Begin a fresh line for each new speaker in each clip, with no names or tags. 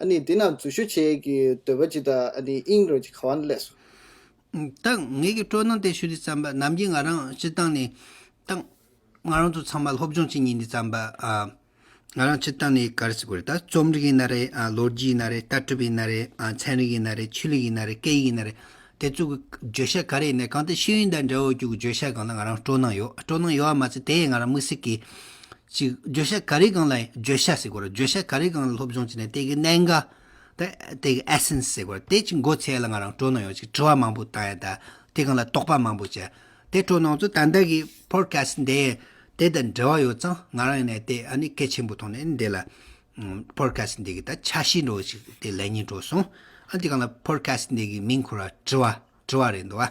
ཨ་ནི་འདི་ན་འཛུལ་ཞུ་བྱེད་ཀྱི་འདོད་པ་ཅི་དང་ཨ་ནི་དབྱིངས་རོལ་གྱི་ཁ་བ་ན་བསླེས་སོ། བཏང།
ངེད་ཀྱི་སྤྲོ་སྣང་དེ་ཞུ་དུས་བརྩམས་པ་ནམ་གྱིས་ང་རང་སྤྱི་བཏང་ནས། བཏང། ང་རང་ཚོ་ཚང་མ་སློབ་སྦྱོང་བྱེད་ཉིན་འདི་བརྩམས་པ། ང་རང་སྤྱི་བཏང་ནས་ག་རེ་ཟེར་གོ་རེད་ད། རྩོམ་རིག་ཡིན་ན་རེད། ལོ་རྒྱུས་ཡིན་ན་རེད། ལྟ་གྲུབ་ཡིན་ན་རེད། ཚན་རིག་ཡིན་ན་རེད། ཆོས་ལུགས་ཡིན་ན་རེད། སྐད་ཡིག་ཡིན་ན་རེད། དེ་ཚོ་གི་བརྗོད་བྱ་ག་རེ་ཡིན་ན་གང་དེ་ཤེས་ཡོན་དང་འབྲེལ་བ་ཡོད་རྒྱུ་གི་བརྗོད་བྱ་གང་ལ་ང་རང་སྤྲོ་སྣང་ཡོད། སྤྲོ་སྣང་ཡོད་བ་མ་ཚད་དེ་ཡང་ང་རང་དམིགས་བསལ་གྱིས། གཅིག། བརྗོད་བྱ་ག་རེ་གང་ལ་བརྗོད་བྱ་ཟེར་གོ། བརྗོད་བྱ་ག་རེ་གང་ལ་སློབ་སྦྱོང་བྱས་ནས་དེ་གི་གནད་འགའ། དེ་གི essence ཟེར་གོ། དེ་གཅིག་མགོ་ཚད་ལ་ང་རང་སྤྲོ་སྣང་ཡོང་ཅིག་དྲི་བ་མང་པོ་བཏང་ཡ་ད། དེ་གང་ལ་དོགས་པ་མང་པོ་བྱས། དེ་སྤྲོ་སྣང་ཚོ་ད་ལྟ་གི podcast འདི་དེ་དང་འབྲེལ་བ་ཡོད་ཙང་ང་རང་ཡིན་ནས་དེ་ཨ་ནི་གལ་ཆེན་པོ་མཐོང་ནས་འདི་ལ། podcast འདི་གི་ད་ཆ་ཤེས་འགྲོ་ཅིག་དེ་ལན་གཉིས་འགྲོ་སོང། ཨ་དེ་གང་ལ podcast འདི་གི་མིང་འཁུར་བ་དྲི་བ་དྲི་བ་རེད་འདུག་ཨ།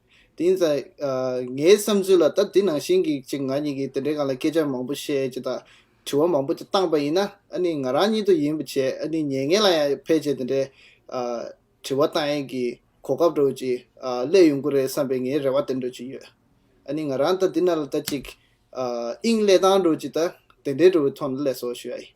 དེ་ཡིན་ཙང། ངའི་བསམ་ཚུལ་ལ་ད་འདི་ནང་བཞིན་གྱི་ཅིག་ང་གཉིས་ཀྱིས་དེ་འདྲའི་སྒང་ལ་སྐད་ཆ་མང་པོ་བཤད་ཅིག་དང། དྲི་བ་མང་པོ་ཅིག་བཏང་པ་ཡིན་ན་ཨ་ནི་ང་རང་ཉིད་དུ་ཡིན་པ་བྱས་ཨ་ནི་ཉེ་ངན་ལ་ཡང་ཕལ་ཆེར་དེ་འདྲའི། དྲི་བ་བཏང་ཡས་ཀྱི་གོ་སྐབས་འགྲོ་ཅིག་སླད་ཡོང་གི་རེད་བསམ་པའི་ངའི་རེ་བ་དེ་འགྲོ་ཅིག་ཡོད། ཨ་ནི་ང་རང་ད་འདི་ནང་ལ་ད་ཅིག། དབྱིངས་སླད་བཏང་འགྲོ་ཅིག་ད་དེ་འདྲའི་འགྲོ་བའི་ཐོག་ནས་སླད་སོ་ཞུ་ཡ་ཡིན།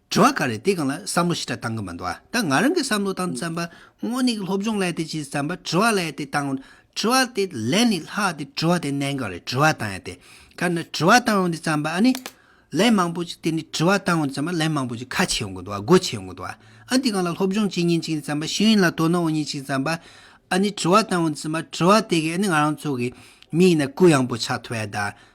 དྲི་བ་ག་རེ་དེ་གང་ལ་བསམ་བློ་ཞི་དྲག་བཏང་གི་མི་འདུག་ཨ་ད་ང་རང་གི་བསམ་བློ་དང་བཙན་པ་དངོས་ནས་སློབ་སྦྱོང་ལས་དེ་ཅིས་བཙན་པ་དྲི་བ་ལས་དེ་བཏང་དྲི་བ་དེ་ལས་ནས་ལྷག་དེ་དྲི་བ་དེ་གནད་འགག་རེད་དྲི་བ་བཏང་ཡ་དེ་ག་ནས་དྲི་བ་བཏང་ཡོང་དེ་བཙན་པ་ཨ་ནི་ལན་མང་པོ་ཅིག་དེ་ནས་དྲི་བ་བཏང་ཡོང་དེ་བཙན་པ་ལན་མང་པོ་ཅིག་ཁ་ཆེ་ཡོང་གི་འདུག་ཨ་སྒོ་ཆེ་ཡོང་གི་འདུག་ཨ་དེ་གང་ལ་སློབ་སྦྱོང་བྱེད་ཉིན་ཅིག་ནས་བཙན་པ་ཤེས་ཡོན་ལ་དོ་སྣང་འོང་ཉིན་ཅིག་བཙན་པ་ཨ་ནི་དྲི་བ་བཏང་ཡོང་དེ་བཙན་པ་དྲི་བ་དེ་གས་ཨ་ནི་ང་རང་ཚོ་གི་མི་ཡིན་ན་གུ་ཡངས་པོ་ཆགས་ཐུབ་ཡ་ད་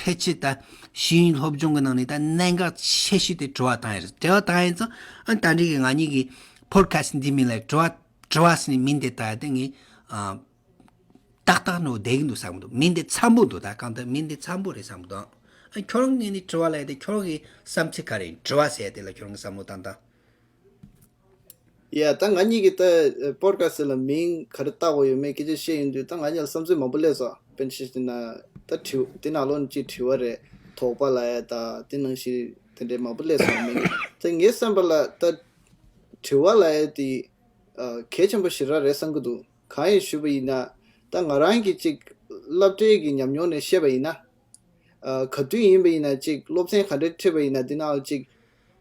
ཕལ་ཆེར་ད་ཤི་ཡིན་སློབ་སྦྱོང་གི་ནང་ནས་ད་གནད་འགག་ཆེ་ཤོས་དེ་དྲི་བ་དང་ཡིན་དྲི་བ་དང་ཡིན་ཙང་ཨ་ད་རེས་ཀྱི་ང་གཉིས་ཀྱི Podcast འདི་མིན་ལ་དྲི་བ་དྲི་བ་ཟེར་ནས་མིང་དེ་ད་དེ་ངས་ཏག་ཏག་ནོར་བསྡད་ཀྱི་འདུག་བསམ་གྱི་འདུག་མིང་དེ་འཚམ་པོ་འདུག་ད་གང་ལྟར་མིང་དེ་འཚམ་པོ་རེད་བསམ་གྱི་འདུག་ཨང། ཁྱོད་རང་གི་ངས་ནི་དྲི་བ་ལ་ཡ་དེ་ཁྱོད་རང་གི་བསམ་ཚུལ་ག་རེད་ཡིན་དྲི་བ་ཟེར་ཡ་དེ་ལ་ཁྱོད་རང་གི་བསམ་བློ་བཏང་དང།
ཡ། ད་ང་གཉིས་ཀྱིས་ད Podcast ལ་མིང་ག་རེ་བཏགས་དགོས་ཡོད་མེད་སྐད་ཆ་བཤད་ཡོང་དུས་ད་ང་གཉིས་ལ་བསམ་ཚུལ་མང་པོ་སླེབས་སོང་བན་ཆེ་ཞེ་ན་ད་དྲི་བ་འདི་ནང་ལོགས་ནས་ཅིག་དྲི་བ་རེད་དོགས་པ་ལ་ཡ་ད་འདི་ནང་བཞིན་དེ་འདྲའི་མང་པོ་སླེབས་སོང་མིན་ད་ངའི་བསམ་པ་ལ་ད་དྲི་བ་ལ་ཡ་དེ་གལ་ཆེན་པོ་ཞེ་དྲག་རེད་བསམ་གྱི་འདུག་གང་ཡིན་ཞུས་པ་ཡིན་ན་ད་ང་རང་གིས་ཅིག་བསླབ་གྲྭའི་གི་ཉམས་མྱོང་ནས་བཤད་པ་ཡིན་ན། ག་དུས་ཡིན་པ་ཡིན་ན་ཅིག་སློབ་ཚན་ག་འདྲ་ཁྲིད་པ་ཡིན་ན་འདི་ནང་ལ་ཅིག།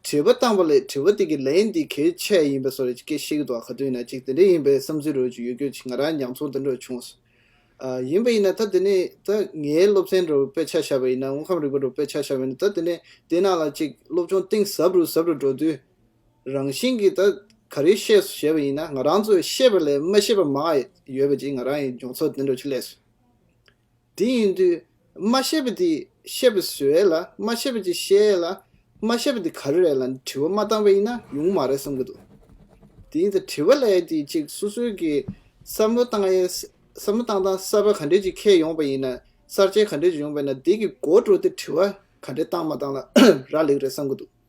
དྲི་བ་བཏང་བ་ལས་དྲི་བ་དེ་གི་ལན་འདི་གལ་ཆེ་ཡིན་པ་སོགས་རེ་སྐད་ཤེས་གི་འདུག་ག་དུས་ན་ཅིག་དེ་འདྲ་ཡིན་པའི་བསམ་ཚུལ་རོལ་གྱི་ཡོད་ཁྱོད་ཀྱི་ང་རང་ཉམས་ཚོར་འདི་འདྲ་བྱུང་སོང། ཡིན་པ་ཡིན་ན་ད་དེ་ནས་ད་ངའི་སློབ་ཚན་རུ་དཔེ་ཆ་བཞག་པ་ཡིན་ན་དངོས་ཁམས་རིག་པ་རུ་དཔེ་ཆ་བཞག་པ་ཡིན་ན་ད་དེ་ནས་དེ་ནང་ལ་ཅིག་སློབ་སྦྱོང་གཏིང་ཟབ་རུ་ཟབ་རུ་འགྲོ་དུས་རང་བཞིན་གི་ད་ག་རེ་ཤེས་སོ་ཞེས་པ་ཡིན་ན་ང་རང་ཚོས་ཤེས་པ་ལས་མ་ཤེས་པ་མང་ཡོད་པ་ཅིག་ང་རང་ཡི་མགྱོགས་ཚོར་འདི་འདྲ་ཆུ་ལས་སོ། དེ་ཡིན་དུས་མ་ཤེས་པ་དེ་ཤེས་པ་སུ་རེད་ལ་མ་ཤེས་པ་ཅིག་ཤེས་ལ་མ་ཤེས་པ་དེ་ག་རེ་རེད་ལ་དྲི་བ་མ་བཏང་བ་ཡིན་ན་ཡོང་མ་རེད་བསམ་གྱི་འདུག་དེ་ཡིན་ཚེ་དྲི་བ་ལས་དེ་གཅིག་སོ་སོའི་གི་བསམ་བློ་བཏང་ཡིན་བསམ་བློ་བཏང་སྟངས་གསར་པ་ག་འདྲས་ཅིག་ཁྱེད་ཡོང་བ་ཡིན་ན་གསར་བརྗེ་ག་འདྲས་ཅིག་ཡོང་བ་ཡིན་ན་དེ་གི་འགོ་བཀྲོལ་ཏེ་དྲི་བ་ག་འདྲས་བཏང་མ་བཏང་ལ་རག་ལེགས་རེད་བསམ་གྱི་འདུག།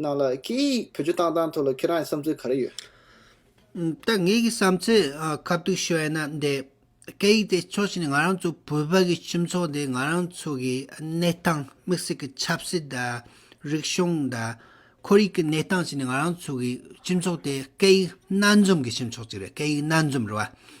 ནང་ལ་སྐད་ཡིག་བོད་ཆུ་བཏང་སྟངས་ཐོག་ལ་ཁྱེད་རང་གི་བསམ་ཚུལ་ག་རེ་ཡོད། ད་
ངེད་ཀྱི་བསམ་ཚུལ་ཁ་བསྡུ་ཞུ་ཡ་ན་འདི། སྐད་ཡིག་དེ་ཕྱོགས་གཅིག་ནས་ང་རང་ཚོ་བོད་པ་གི་སྤྱི་ཚོགས་འདི་ང་རང་ཚོ་གི་གནས་སྟངས་དམིགས་བསལ་གི་ཆབ་སྲིད་དང། རིག་གཞུང་དང། ཁོར་ཡུག་གི་གནས་སྟངས་བྱས་ནས་ང་རང་ཚོ་གི་སྤྱི་ཚོགས་དེ་སྐད་ཡིག་སྣ་འཛོམས་གི་སྤྱི་ཚོགས་གཅིག་རེད་སྐད་ཡིག་སྣ་འཛོམས་རེད་བ།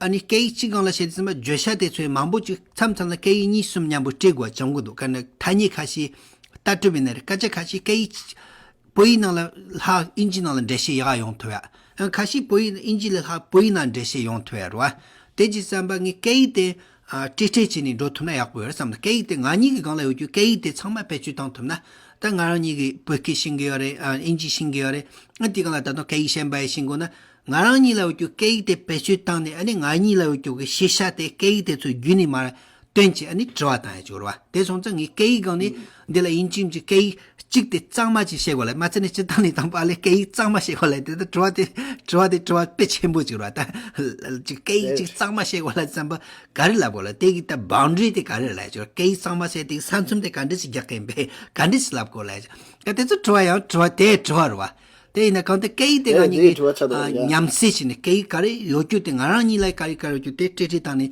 ཨ་ནི་སྐད་ཡིག་གཅིག་གང་ལ་བྱས་ཏེ་ཟིན་པ་བརྗོད་བྱ་དེ་ཚོའི་མང་པོ་ཅིག་མཚམས་མཚམས་ལ་སྐད་ཡིག་གཉིས་གསུམ་མཉམ་པོ་བཀྲི་དགོས་པ་བྱུང་གི་འདུག་དཀའ་ནི་ཐ་སྙད་ཁ་ཤས་ལྟར་སྤྲོས་པའི་ན་རེ་སྐད་ཆ་ཁ་ཤས་སྐད་ཡིག་བོད་ཡིག་ནང་ལ་ལྷག་ཨིན་ཇི་ནང་ལ་འགྲེལ་བཤད་ཡག་ཡོང་ཐུབ་ཡ། ཡང་ཁ་ཤས་བོད་ཡིག་ནང་ཨིན་ཇི་ལས་ལྷག་བོད་ཡིག་ནང་འགྲེལ་བཤད་ཡོང་ཐུབ་ཡ་རུ། དེ་ཅིག་བསམ་པ་ངས་སྐད་ཡིག་དེ་བཀྲི་བཀྲི་བྱས་ནས་འགྲོ་ཐུབ་ན་ཡག་པོ་ཡོད་རེད་བསམ་སྐད་ཡིག་དེ་ང་གཉིས་ཀྱི་སྒང་ལ་ཡོད་རྒྱུ་སྐད་ཡིག་དེ་ཚང་མ་བེད་སྤྱོད་བཏང་ཐུབ་ན། ད་ང་རང་གཉིས་ཀྱིས་བོད་སྐད་ཤེས་ཀྱི་ཡོད་རེད་ཨིན་ཇི་ཤེས་ཀྱི་ཡོད་རེད་ཨ་དེ་གང་ལ་ད་དུང་སྐད་ཡིག་གཞན་པ་ཡིས་ཤེས་དགོས་ན། ང་རང་ཉིད་ལ་ཡོད་རྒྱུ་སྐད་ཡིག་དེ་བེད་སྤྱོད་བཏང་ནས་ཨ་ནི་ང་ཉིད་ལ་ཡོད་རྒྱུ་གི་ཤེས་བྱ་དེ་སྐད་ཡིག་དེ་ཚོའི་བརྒྱུད་ནས་མར་སྟོན་ཅེས་ཨ་ནི་དྲི་བ་དང་ཡ་ཅོར་བ་དེ་སོང་ཙང་ངས་སྐད་ཡིག་སྒང་ནས་འདི་ལ་ཡིན་ཅིང་ཅིག་སྐད་ཡིག་གཅིག་དེ་གཙང་མ་ཅིག་ཤེས་གོ་ལེ་མ་ཚད་ནས་སྤྱི་བཏང་ནས་དང་པ་ལེ་སྐད་ཡིག་གཙང་མ་ཤེས་གོ་ལེ་དེ་ལྟར་དྲི་བ་དེ་དྲི་བ་དེ་དྲི་བ་དཔེ་ཆེན་པོ་ཅིག་རོ་ད་ཅིག་སྐད་ཡིག་གཅིག་གཙང་མ་ཤེས་གོ་ལེ་བརྩམས་པ་ག་རེ་ལབ་གོ་ལེ་དེ་གི་ད Boundary དེ་ག་རེ་རེད་ལ་ཡ་ཅོར་སྐད་ཡིག་གཙང་མ་བྱས་དེ་གི་ས་མཚམས་དེ་ག་འདྲི་ཞིག་རྒྱག་གི་ཡིན་པས་ག་འདྲི་ཞིག་ལབ་གོ་ལེ་ཡ་ཅོར་ག་དེ་ཚོ་དྲི་བ་ཡང་དྲི་བ་དེ་དྲི་བ་རུ་བ། དེ་ཡིན་ན་གང་དེ་སྐད་ཡིག་དེ་ག་གཉིས་ཀྱི་ཉམས་སད་བྱས་ནས་སྐད་ཡིག་ག་རེ་ཡོད་རྒྱུ་དེ་ང་རང་གཉིས་ལ་སྐད་ཡིག་ག་རེ་ཡོད་རྒྱུ་དེ་སྤྲད་ཁྲིད་བཏང་ནས་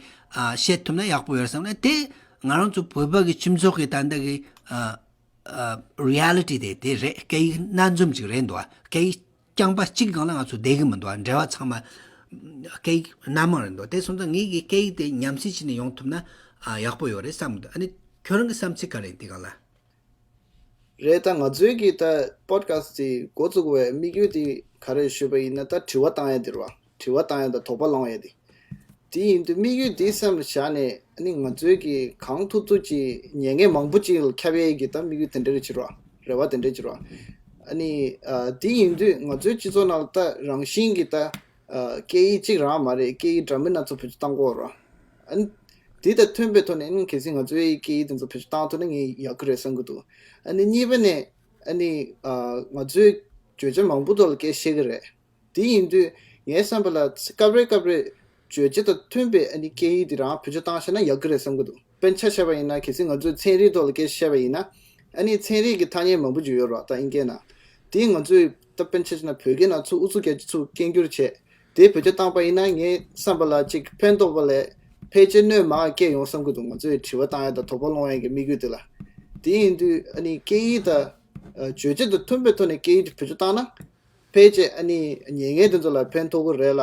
བཤད་ཐུབ་ན་ཡག་པོ་ཡོད་བསམ་ན་དེ་ང་རང་ཚོ་བོད་པ་གི་ཁྱིམ་ཚོགས་ཀྱི་ད་ལྟ་གི Reality དེ་དེ་རེད་སྐད་ཡིག་སྣ་འཛོམས་ཅིག་རེད་འདུག་སྐད་ཡིག་རྐྱང་པ་གཅིག་གི་ནང་ལ་ང་ཚོ་བསྡད་ཀྱི་མི་འདུག་འབྲེལ་བ་ཚང་མ་སྐད་ཡིག་སྣ་མང་རེད་འདུག་དེ་སོང་ཙང་ངེད་ཀྱི་སྐད་ཡིག་དེ་ཉམས་སད་བྱས་ནས་ཡོང་ཐུབ་ན་ཡག་པོ་ཡོད་རེད་བསམ་འདུག་ཨ་ནི་ཁྱོད་རང་གི་བསམ་ཚུལ་ག་རེད་འདི་ག་ལ།
རེད་ད་ང་ཚོའི་གི་ད Podcast དེ་འགོ་བཙུགས་བའི་དམིགས་ཡུལ་དེ་ག་རེད་ཞུས་པ་ཡིན་ན་ད་དྲི་བ་བཏང་ཡས་དེར་བ་དྲི་བ་བཏང་ཡས་དང་དོགས་པ་ལང་ཡས་དེ་དེ་ཡིན་དུས་དམིགས་ཡུལ་དེ་སེམས་ལ་བཞག་ནས་ནི་ང་ཚོའི་གི་གང་ཐུབ་ཐུབ་ཀྱི་ཉེས་ངས་མང་པོ་ཅིག་ལ་ཁྱབ་ཡས་གི་ད་དམིགས་ཡུལ་དེ་འདྲ་རེད་ཕྱིར་བ་རེད་བ་དེ་འདྲ་ཕྱིར་བ་ནི་དེ་ཡིན་དུས་ང་ཚོའི་སྤྱི་ཚོགས་ནང་ད་རང་བཞིན་གི་ད་སྐད་ཡིག་གཅིག་རང་མ་རེད་སྐད་ཡིག་འདྲ་མིན་སྣ་ཚོགས་བེད་སྤྱོད་བཏང་དགོས་རོ། དེ་དང་མཐུན་པའི་ཐོག་ནས་གལ་སྲིད་ང་ཚོའི་སྐད་ཡིག་དེ་ཚོ་བེད་སྤྱོད་བཏང་ཐུབ་ན་ངས་ཡག་གི་རེད་བསམ་གྱི་འདུག་གཉིས་པ་ནས། ང་ཚོའི་བརྗོད་བྱ་མང་པོ་ཐོག་ལ་སྐད་བཤད་གི་རེད། དེ་ཡིན་དུས་ངའི་བསམ་པ་ལ་སྐབས་རེ་སྐབས་རེར། བརྗོད་བྱ་དང་མཐུན་པའི་སྐད་ཡིག་དེ་རང་བེད་སྤྱོད་བཏང་ཤེས་ན་ཡག་གི་རེད་བསམ་གྱི་འདུག། དཔེར་ཆ་བྱས་པ་ཡིན་ན་གལ་སྲིད་ང་ཚོས་ཚན་རིག་ཐོག་ལ་སྐད་ཆ་བཤད་པ་ཡིན་ན། ཨ་ནི་ཚན་རིག་གི་ཐ་སྙད་མང་པོ་འཇུག་ཡོད་རོགས་ད་ཨིན་སྐད་ནང། དེ་ང་ཚོས་ད་དཔེར་ཆ་བྱས་ན་བོད་སྐད་ནང་ཚུགས་ཨུ་ཚུགས་རྒྱ་ཆེ་ཚུགས་སྐད་འགྱུར་བྱས་དེ་བོད་ཆ་བཏང་པ་ཡིན་ན་ངས་བསམ་པ་ལ་ཅིག་ཕན་ཐོགས་པ་ལས་ཕལ་ཆེར་སྣོད་མང་སྐྱེས་ཡོང་བསམ་གྱི་འདུག་ང་ཚོས་དྲི་བ་བཏང་ཡ་དང་དོགས་པ་སློང་ཡ་གི་དམིགས་ཡུལ་དེ་ལ། དེ་ཡིན་དུས་ཨ་ནི་སྐད་ཡིག་དང། རྗོད་བྱེད་དང་མཐུན་པའི་ཐོག་ནས་སྐད་ཡིག་དེ་བོད་ཆ་བཏང་ན། ཕལ་ཆེར་ཨ་ནི་ཉེས་ངན་དེ་ཚོ་ལ་ཕན་ཐོགས་ཀྱི་རེད་ལ།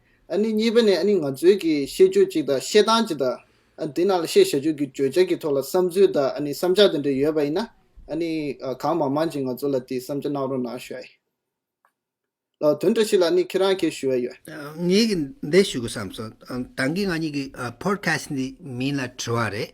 གཉིས་པ་ནི་ང་ཚོའི་ཤེས་སྤྱོད་ཅིག་དང་བཤད་སྟངས་ཅིག་དང། དེ་ནང་ལ་བཤད་བྱ་སྤྱོད་ཀྱི་བརྗོད་བྱ་ཀྱི་ཐོག་ལ་བསམ་ཚུལ་དང་བསམ་འཆར་དེ་འདྲ་ཡོད་པ་ཡིན་ན། གང་མང་མང་ཅིག་ང་ཚོ་ལ་དེ་བསམ་འཆར་གནང་རོགས་གནང་ཞུ་བ་ཡིན། དོན་འདྲ་ཞིག་ལ་ཁྱེད་རང་གིས་ཞུ་བ་ཡོད། ངས་
འདི་ཞུ་དགོས་བསམ་སོང། ད་གིན་ང་གཉིས་ཀྱི Podcast འདིའི་མིང་ལ་དྲི་བ་རེད།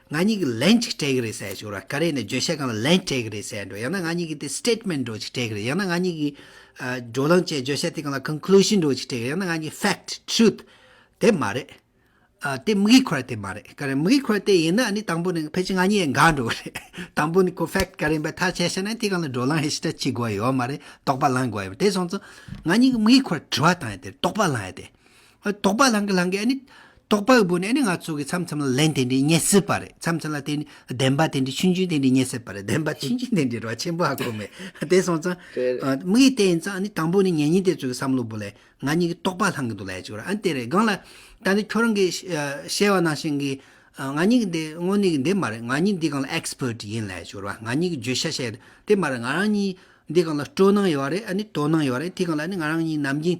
ང་གཉིས་ཀྱི་ལན་ཅིག་སྤྲད་གི་རེད་ཟེར་ཞོར་ག་རེ་ནས་བརྗོད་བྱ་གང་ལ་ལན་སྤྲད་གི་རེད་ཟེར་འགྲོ་ཡང་ན་ང་གཉིས་ཀྱི་དེ statement འགྲོ་ཅིག་སྤྲད་གི་རེད་ཡང་ན་ང་གཉིས་ཀྱི། བགྲོ་གླེང་བཅས་བརྗོད་བྱ་དེ་གང་ལ conclusion འགྲོ་ཅིག་སྤྲད་གི་རེད་ཡང་ན་ང་གཉིས fact truth དེ་མ་རེད། དེ་དམིགས་ཡུལ་ཁོ་ར་དེ་མ་རེད་ག་རེ་དམིགས་ཡུལ་ཁོ་ར་དེ་ཡིན་ན་ནི་དང་པོ་ནི་ཕལ་ཆེར་ང་གཉིས་འགའ་འགྲོ་གི་རེད་དང་པོ་ནི་ཁོ fact ག་རེ་ཡིན་པ་ཐག་བཅད་ཤེས་ན་དེ་གང་ལ་བགྲོ་གླེང་ཧེ་ཤི་ཏྲ་བྱེད་དགོས་ཡོད་མ་རེད་རྟོགས་པ་བླང་དགོས་ཡོད་མ་རེད་དེ་སོང་ཙང་ང་གཉིས་ཀྱི་དམིགས་ཡུལ་ཁོ་ར་དྲི་བ་བཏང་ཡོད་དེ་རེད་རྟོགས་པ་བླང་ཡོད་དེ། དོགས་པ་ལང་གི་ལང་གི་ཨ་ནི། དོགས་པའི་བུ་ནི་ཨ་ནི་ང་ཚོ་གི་མཚམས་མཚམས་ལ་ལན་དེ་འདྲའི་རྙེད་སྲིད་པ་རེད་མཚམས་མཚམས་ལ་དེ་ནི་བདེན་པ་དེ་འདྲའི་ཆུན་ཆུན་དེ་འདྲའི་རྙེད་སྲིད་པ་རེད་བདེན་པ་ཆུན་ཆུན་དེ་འདྲའི་རོ་ཆེན་པོ་ཧ་གོ་མེད་དེ་སོང་ཙང། དམིགས་ཡུལ་དེ་ཡིན་ཙང་ཨ་ནི་དང་པོ་ནི་ངེད་གཉིས་དེ་ཚོ་གི་བསམ་བློ་བུ་ལས་ང་གཉིས་ཀྱི་དོགས་པ་ལང་གི་འདུག་ལས་ཅིག་རོ་ཨ་ནི་དེ་རེད་སྒང་ལ། ད་ནི་ཁྱོད་རང་གི་ཤེས་བ་ནང་བཞིན་གྱི། ང་གཉིས་ཀྱི་འདི་དངོས་གནས་ཀྱི་འདི་མ་རེད་ང་གཉིས་འདི་གང་ལ Expert ཡིན་ལས་ཅིག་རོ་ང་གཉིས་ཀྱི་བརྗོད་བྱ་བཤད་ཡོད་དེ་མ་རེད་ང་རང་གཉིས་འདི་གང་ལ་སྤྲོ་སྣང་ཡོད་རེད་ཨ་ནི་དོ་སྣང་ཡོད་རེད་དེ་གང་ལ་ཨ་ནི་ང་རང་གཉིས་ནམ་རྒྱུན་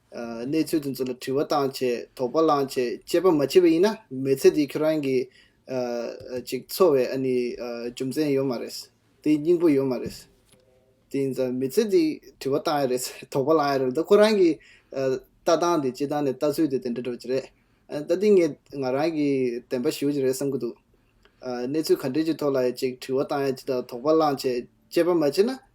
གནས་ཚུལ་དེ་ཚོ་ལ་དྲི་བ་བཏང་ཆེད་དོགས་པ་བསླངས་ཆེད་དཔྱད་པ་མ་བྱས་པ་ཡིན་ན་མི་ཚེ་འདི་ཁྱོད་རང་གིས་ཅིག་འཚོ་བའི་ཨ་ནི་རྒྱུ་མཚན་ཡོད་མ་རེད། དེའི་སྙིང་པོ་ཡོད་མ་རེད། དེ་ཡིན་ཙང་མི་ཚེ་འདི་དྲི་བ་བཏང་ཡ་རེད་དོགས་པ་བསླངས་ཡ་རེད་ད་ཁོ་རང་གི་ལྟ་སྟངས་དེ་སྤྱི་བཏང་ནས་ལྟ་ཚུལ་དེ་དེ་འདྲ་འགྲོ་གི་རེད། ད་ལྟིང་ངེ་ང་རང་གིས་བདེན་པ་ཞུ་གི་རེད་བསམ་གྱི་འདུག་གནས་ཚུལ་ག་འདྲའི་ཅིག་ཐོག་ལ་ཡང་ཅིག་དྲི་བ་བཏང་ཡ་ཅིག་དང་དོགས་པ་བསླངས་ཆེད་དཔྱད་པ་མ་བྱས་ན་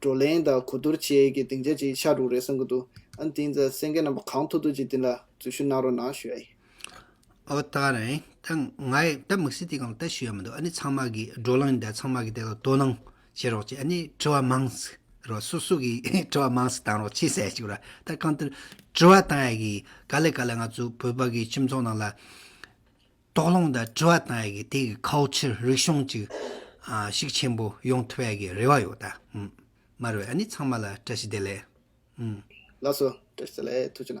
བགྲོ་གླེང་དང་གོ་བསྡུར་བཅས་ཀྱི་སྡིངས་ཆ་ཅིག་ཆགས་འགྲོ་གི་རེད་བསམ་གྱི་འདུག་ཨ་འདིའི་མཛའ་སེང་གེ་རྣམ་པ་གང་ཐུག་ཐུག་ཅིག་འདི་ལ་འཛུལ་ཞུགས་གནང་རོགས་གནང་ཞུ་ཡ་ཡིན། ཨོ་ད་
རེང་ད་ང་ཡི་ད་མིག་སི་ཏི་གང་ལྟ་ཞུ་ཡ་མི་འདུག་ཨ་ནི་ཚང་མ་གི་བགྲོ་གླེང་འདི་ཚང་མ་གི་དེ་ལ་དོ་སྣང་བྱེད་རོགས་གྱིས་ཨ་ནི་དྲི་བ་མང་ཟིག་རོགས་སུ་སུ་གི་དྲི་བ་མང་ཟིག་བཏང་རོགས་གྱིས་གསལ་ཞུ་ར་ད་གང་ལྟར་དྲི་བ་བཏང་ཡ་གི་ག་ལེ་ག་ལེ་ང་ཚོ་བོད་པ་གི་ཁྱིམ་ཚང་ནང་ལ། དོགས་སློང་དང་དྲི་བ་དང་ཡི་གེ་དེ་གི་ཁའོ་ཕྱིར་རིག་གཞུང་ཅིག་ཤིག་ཆེན་པོ་ཡོང་ཐུབ་ཡ་གི་རེ་བ་ཡོད་ད། མར་བས་ཨ་ནི་ཚང་མ་
ལ་བཀྲ་ཤིས་
བདེ་ལེགས། ལགས་སོ།
བཀྲ་ཤིས་བདེ་
ལེགས་ཐུགས་ཆེ་ན།